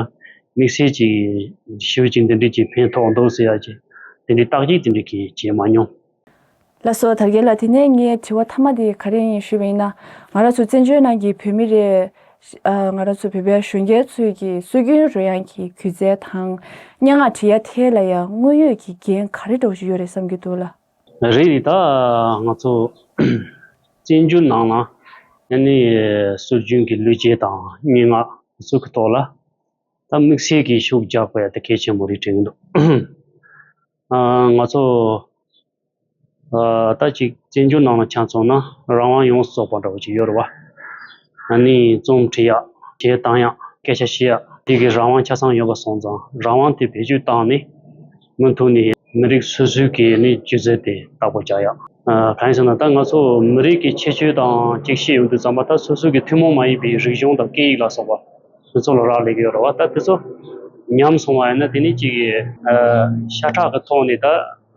དམིགས་བསལ་གྱིས་ཞི་བའི་ཅིག་འདི་འདྲས་ཀྱིས་ཕན་ཐོགས་འདུག་ཟེར་ཡ་ཀྱི་དེ་འདྲའི་བརྟག་དཔྱད་དེ་འདྲས་ཀྱིས་བྱས་མ་མྱོང། ལ་སོགས་དར་རྒྱས་ལ་དེ་ནས་ངའི་དྲི་བ་ཐ་མ་དེ་ག་རེ་ཡིན་ཞུས་པ་ཡིན་ན། ང་རང་ཚོ་བཙན་བྱོལ་ནང་གི་བོད་མི་རེད། ང་རང་ཚོ་བོད་པའི་གཞོན་སྐྱེས་ཚོས་ཀྱི་སྲོལ་རྒྱུན་རོལ་དབྱངས་ཀྱི་གུས་རྩལ་དང་སྙན་ངག་བྲི་ཡ་དེ་ལ་ཡང་དངོས་ཡོད་ཀྱི་འགན་ག་རེ་སྒྲོག་བཞིན་ཡོད་རེད་བསམ་གྱི་འདུག་ལ། རེད་ད་ང་ཚོ་བཙན་བྱོལ་ནང་ལ་ཡང་ནི་སྲོལ་རྒྱུན་གྱི་ལུས་རྗེས་དང་སྙན་ངག་སོགས་ཀྱི་ཐོག་ལ་ད་དམིགས་བསལ་གྱི་ཤུགས་རྒྱག་པ་ཡག་གལ་ཆེན་པོ་རེད་དྲན་གྱི་འདུག་ང་ཚོ་ད་ཅིག་བཙན་བྱོལ་ནང་ལ་ཆ་མཚོན་ན་རང་དབང་ཡོངས་སུ་རྫོགས་པ་འདྲ་བོ་ཅིག་ཡོད་རེད་བ། ཡང་ནི་རྩོམ་འབྲི་ཡག་བྱེད་སྟངས་ཡག་སྐད་ཆ་བཤད་ཡག་དེ་གའི་རང་དབང་ཆ་ཚང་ཡོད་པ་སོང་ཙང་རང་དབང་དེ་བེད་སྤྱོད་བཏང་ནས་སྔོན་ཐོན་ནི་མི་རིགས་སོ་སོའི་གི་ནི་སྤྱོད་རྩལ་དེ་དག་པོ་བྱ་ཡག། གང་ཡིན་ཟེར་ན་ད་ང་ཚོ་མི་རིགས་གི་ཁྱད་ཆོས་དང་གཅིག་ཤེས་ཡོང་དུས་ཙམ་པ་ད་སོ་སོའི་གི་ཐུན་མོང་མ་ཡིན་པའི་རིག་གཞུང་དང་སྐད་ཡིག་ལ་སོགས་པ་དེ་ཚོ་ལ་རག་ལས་གི་ཡོད་རེད་བ་ད་དེ་ཚོ་ཉམས་སོང་བ་ཡིན་ན་དེ་ནི་གཅིག་གི། ཤ་ཁྲག་གི་ཐོག་ནས་ད་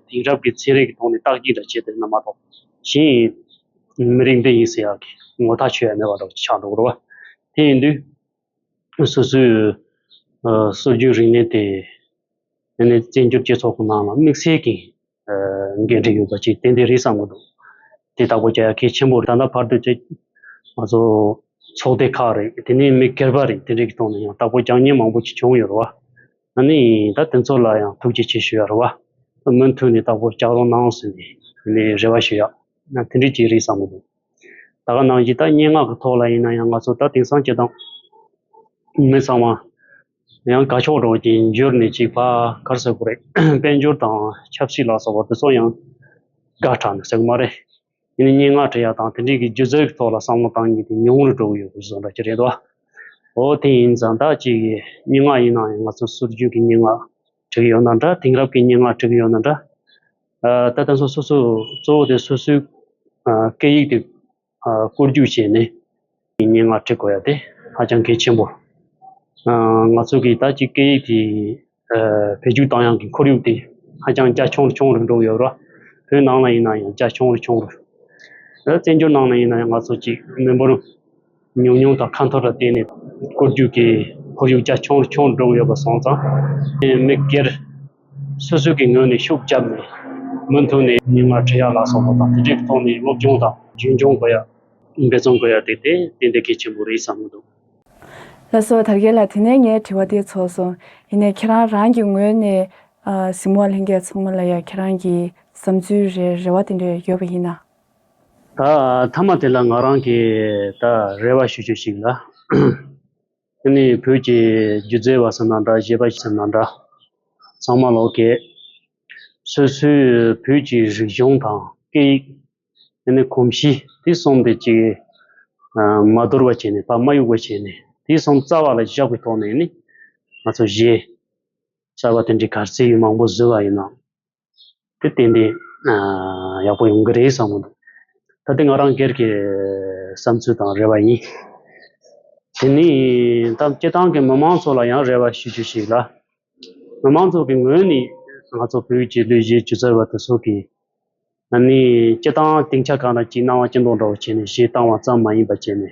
དེང་རབས་ཀྱི་ཚན་རིག་གི་ཐོག་ནས་བརྟག་གཅིག་འདྲ་བྱས་དེ་ན་མ་གཏོགས་གཞན་ཡིན་མི་རིགས་འདི་ཡིན་ཟེར་ཡག་གི་ངོ་ཐག་ཆོད་ཡ་མེད་པ་འདྲ་བོ་ཆགས་འགྲོ་གི་རེད་བ་དེ་ཡིན་དུས། ཁྱོད་སོ་སོའི་སྲོལ་རྒྱུན་རིག་གནས་དེ་ནས་བཙན་བྱོལ་སྤྱི་ཚོགས་ཀྱི་ནང་ལ་དམིགས་བསལ་གྱི་འགན་འཁྲི་ཡོད་པ་ཅིག་ཏན་ཏན་རེད་བསམ་གྱི་འདུག་དེ་ལྟ་བུ་རྒྱལ་ཁའི་ཆེན་པོ་རེད་ད་ལྟ་བར་དུ་ཆེ་ང་ཚོ་ཚོགས་སྡེ་ཁག་རེད་དེ་ནས་མི་སྒེར་པ་རེད་དེ་འདྲའི་ཐོག་ནས་ཡང་དག་པོ་རྒྱག་ཉེན་མང་པོ་ཅིག་བྱུང་ཡོད་རེད་བ། ད་ནི་ད་དེ་ཚོ་ལ་ཡང་ཐུགས་རྗེ་ཆེ་ཞུ་ཡག་རེད་བ། མུ་མཐུད་ནས་དག་པོ་རྒྱག་རོགས་གནང་ཟེར་ནས་རེ་བ་ཞུ་ཡག། དེ་འདྲའི་ཅིག་རེད་བསམ་གྱི་འདུག། ད་ག་ནང་བཞིན་ད་སྙན་ངག་གི་ཐོག་ལ་ཡིན་ན་ཡང་ང་ཚོ་ད་དེང་སང་སྤྱི་བཏང། མི་ཚང་མ། ཡང་དགའ་ཕྱོགས་སྒྲོག་ཀྱིས་འགྱུར་ནས་ཅིག་བ་གར་ཟེར་གོ་རེད། དཔལ་འབྱོར་དང་ཆབ་སྲིད་ལ་སོགས་པ་དེ་ཚོ་ཡང་དགའ་དྲག་ནས་ཟེར་གི་མ་རེད། ཡིན་ན་སྙན་ངག་བྲི་ཡག་དང་དེ་འབྲེལ་གྱི་སྒྱུ་རྩལ་གྱི་ཐོག་ལ་བསམ་བློ་བཏང་ཉིན་དེ་ཉུང་རུ་འགྲོ་གི་ཡོད་དགོས་བཟོ་འདྲ་ཅི་རེད་དོ། འོ་དེ་ཡིན་ཙང་ད་ཅིག་གི་སྙན་ངག་ཡིན་ན་ཡང་ང་ཚོ་སུར་བརྗོད་ཀྱི་སྙན་ངག་བྲི་གི་ཡོད་ན་འདྲ་དེང་རབས་ཀྱི་སྙན་ངག་བྲི་གི་ཡོད་ན་འདྲ། ད་ལྟ་སོ་སོས་གཙོ་བོ་དེ་སོ་སོའི་སྐད་ཡིག་དེ་བཀོད་རྒྱུག་བྱས་ནས་སྙན་ངག་བྲི་དགོས་ཡ་དེ་ཧ་ཅང་གལ་ཆེན་པོ། ང་ཚོ་གིས་ད་ཅི་སྐད་ཡིག་དེ་བེད་སྤྱོད་གཏང་ཡང་གི་ཁོར་ཡུག་དེ་ཧ་ཅང་རྒྱ་ཆུང་རུ་ཆུང་རུ་འགྲོ་ཡོད་ར། བོད་ནང་ལ་ཡིན་ན་ཡང་རྒྱ་ཆུང་རུ་ཆུང་རུ། བཙན་བྱོལ་ནང་ལ་ཡིན་ན་ཡང་ང་ཚོ་གཅིག་མི་འབོར། ཉུང་ཉུང་དང་ཁ་འཐོར་ལ་བརྟེན་ནས་བཀོད་རྒྱུགས་ཀྱི་ཁོར་ཡུག་རྒྱ་ཆུང་རུ་ཆུང་རུ་འགྲོ་གི་ཡོད་པ་སོང་ཙང། མི་སྒེར་སོ་སོའི་གི་ངོས་ནས་ཤུགས་བརྒྱབ་ནས་མུ་མཐུད་ནས། མིག་སྔར་འཕྲལ་ཡག་ལག་སོགས་པ་དང་དེ་འབྲེལ་གྱི་ཐོག་ནས་སློབ་སྦྱོང་དང། རྒྱུན་འཁྱོངས་དགོས་ཡ། འབད་བརྩོན་དགོས་ཡ་དེ་དེ་དེ་འདི་གལ་ཆེན་པོ་རེད་བསམ་གྱི་འདུག། ལ་སོགས་དར་རྒྱས་ལ་དེ་ནས་ངས་དྲི་བ་དེ་ཚོགས་སོང། ཡིན་ནས་ཁྱེད་རང་རང་གི་ངོས་ནས། གཟིགས་མོ་ལྷན་རྒྱས་ཚང་མ་ལ་ཡང་ཁྱེད་རང་གི་བསམ་ཚུལ་རེ་རེ་བ་དེ་འདྲ་ཡོད་པ་ཡིན་ན། ད་མཐའ་མ་དེ་ལ་ང་རང་གིས་ད་རེ་བ་ཞུ་རྒྱུ་ཞིག་ལ། དེ་ནི་བོད་ཀྱི་སྒྱུ་རྩལ་བ་ཟེར་ན་འདྲ་བཞད་པ་ཟེར་ན་འདྲ་ཚང་མ་ལོག་གེ། སོ་སོའི་བོད་ཀྱི་རིག་གཞུང་དང་སྐད་ཡིག་དེ་ནི་གོམས་གཤིས་དེ་གསུམ་དེ་གཅིག་མ་དོར་བ་བྱས་ནས་ཕ་མ་གཡུག་པ་བྱས་ནས་དེ་གསུམ་རྩ་བ་ལ་བཞག་པའི་ཐོག་ནས་ནི་ང་ཚོ་གཞས་གསར་བ་དེ་འདྲའི་གར་རྩེད་ཡུལ་མང་པོ་བཟོས་པ་ཡིན་ནམ། དེ་བསྟན་ཏེ་ཡག་པོ་ཡོང་གི་རེད་བསམ་མོད། ད་དེ་ང་རང་སྒེར་གྱི་བསམ་ཚུལ་དང་རེ་བ་ཡིན། དེ་ནི་ད་སྐྱེ་ཐང་གི་མི་མང་ཚོ་ལ་ཡང་རེ་བ་ཞུ་རྒྱུ་ཞིག་ལ། མི་མང་ཚོ་གི་ངོས་ནས་ང་ཚོ་བོད་ཀྱི་ལུས་བཞི་བཅུ་རྩ་བ་དེ་ཚོ་གི་ནི་སྐྱེ་ཐང་སྟེང་ཆ་གང་ལ་གྱིས་སྣང་བ་སྐྱེ་མདོག་འདྲ་བོ་བྱས་ནས་གཞས་བཏང་བ་ཙམ་མ་ཡིན་པ་བྱས་ནས།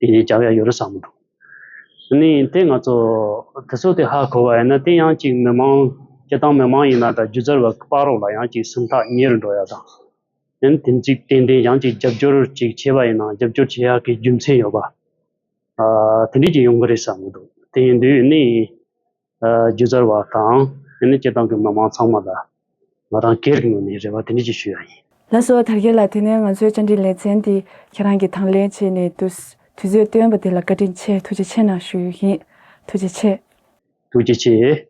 དེ་ནས་བྱ་བའི་ཡོ་རོ་བསམ། ནི་དེ་ང་ཚོ་དེ་ཚོ་དེ་ཧ་གོ་བ་ཡིན་ན་དེ་ཡང་ཅིག་མི་མང་སྐྱེ་སྟངས་མི་མང་ཡིན་ན་དང་སྒྱུ་རྩལ་བ་དཔའ་རོགས་ལ་ཡང་ཅིག་སུམ་ཐག་ཉེར་འགྲོ་ཡ་དང། ཡིན་དེ་ཅིག་ཏན་ཏན་ཡང་ཅིག་རྒྱབ་སྐྱོར་ཅིག་བྱེད་པ་ཡིན་ན་རྒྱབ་སྐྱོར་བྱེད་ཡག་གི་རྒྱུ་མཚན་ཡོད་པ། དེ་འདྲས་ཅིག་ཡོང་གི་རེད་བསམ་མི་འདུག་དེ་ཡིན་དུས་ནི། རྒྱུ་རྩལ་བ་དང་དེ་ནས་སྐད་གདངས་ཀྱི་མི་མང་ཚང་མ་ལ་ང་རང་སྒེར་གྱི་ངོས་ནས་རེ་བ་དེ་འདྲ་ཞིག་ཞུ་ཡ་ཡིན། ལ་སོགས་དར་རྒྱས་ལ་དེ་ནས་ང་ཚོའི་བཅར་འདྲི་ལེ་ཚན་འདི་ཁྱེད་རང་གིས་དང་ལེན་བྱས་ནས་དུས་ཚོད་བཏོན་པ་དེ་ལ་བཀའ་དྲིན་ཆེ་ཐུགས་རྗེ་ཆེ་གནང་ཞུ་ཡུལ་ཡིན་ཐུགས་རྗེ་ཆེ། ཐུགས་རྗེ་ཆེ།